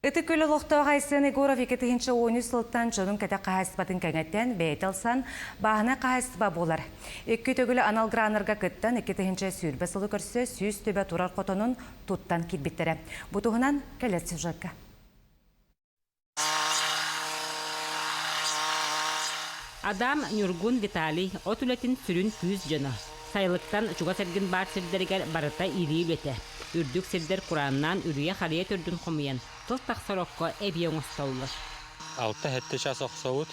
Ытык Күл олохтоох Айсен Егоров икки тыһыынча уон үс сылтан дьонун кэтэх хаһаайыстыбатын кэҥэтэн, бэйэтэ ылсан бааһынай хаһаайыстыба буолар. Икки төгүл анал граннарга кыттан, икки тыһыынча сүүрбэ сылы көрсө сүүс түбэ турар хотонун туттан киирбиттэрэ. Бу туһунан кэлэр сюжетка. Адам, Ньургун Виталий от үлэтин сүрүн күүс дьоно. Сайылыктан чугас эргин баар сирдэригэр барыта ирии үлэтэ. Үрдүк сирдэр курааннаан үрүйэ-харыйа төрдүн хомуйан, тыл тахсар окко эбии оҥостоллор. Алта-сэттэ чаас охсобут.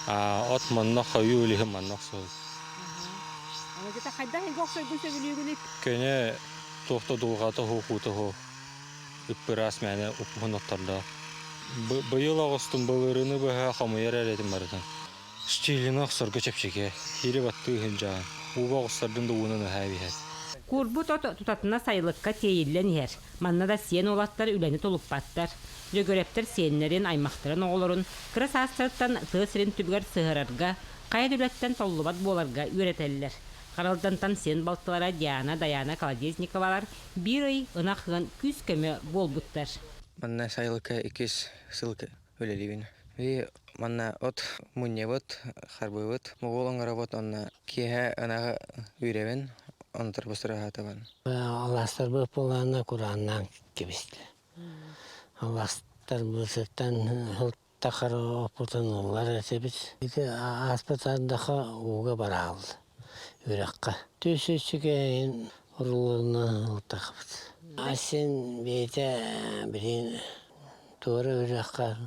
От манна хойуу үлүһү манна охсобут. Алыдьыта хайдах эйгэ охсойгун сөбүлүүгүнүй? Көне туох да дулҕата оһуохуута оһуох. Ыппыраас мээнэ уппуһун оттордоох. Быйыл оҕустум былырыыны быһа хомуйар эрэтим барытын. Стилина охсорго чэпчэки, ири баттыы ыһынчаан, ууга оҕустардын да ууна наһаа эбиһэр. Куурбут от тутатына сайылыкка тиэйиллэн иһэр. Манна да сиэн уолаттар үлэни тулуппаттар. Дьөгүрэптэр сиэннэрин, аймахтарын оҕолорун кыра саастарыттан тыа сирин түбүгэр сыһыарарга, хайа да үлэттэн толлубат буоларга үөрэтэллэр. Харалдантан сиэн балтылара Диана, Дайаана Колодезниковалар Биир ый ынах ыан күүс-көмө буолбуттар. Манна сайылыкка иккис сыл үлэлиибин. Манна от мунньабыт, харбыыбыт, моҕуол оҥоробут, онно киэһэ ынаҕы үүрэбин, онтон быстарыһаатыбын. Алаастарбыт буолаанна курааннаан кэбистэ. Алаастар быысыттан Тахар опутун ыллар этибит. Ити ааспыт ардаха ууга барааллы үрэххэ. Түс үчүгэйин урулларынан ылтахпыт. Асин биитэ билин туора үрэххэ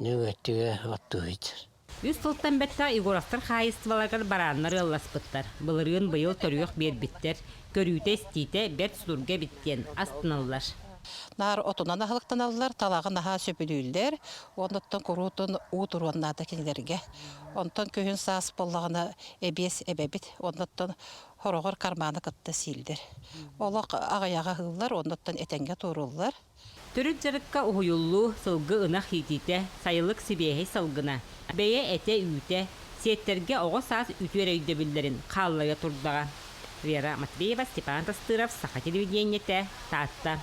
нөҥөттүгэ оттуһуйдар. Үс сылтан бэттэх Егоровтар хаһаайыстыбаларыгар барааннар ыалласпыттар. Былырыын быйыл төрүөх биэрбиттэр. Көрүүтэ-истиитэ бэрт слурга эбит диэн астыналлар. Наар отунан аһылыктаналлар, талаҕы наһаа сөбүлүүллэр. Онтон куруутун уу туруон наада кинилэргэ. Онтон күһүн-саас буоллаҕына эбиэс эбэбит. Оннуттан хороҕор карманы кытта сииллэр. Олох аҕыйаҕы аһыыллар, оннуттан этэҥҥэ туоруллар. Төрүт дьарыкка уһуйуллуу, сылгы ынах иитиитэ, сайылык сибиэһэй салгына, бэйэ этэ-үүтэ, сиэттэргэ оҕо саас үтүөр өйдөбүллэрин хааллайа турдаҕа. Вера Матвеева, Степан Костыров, Саха телевидениетэ, Таатта.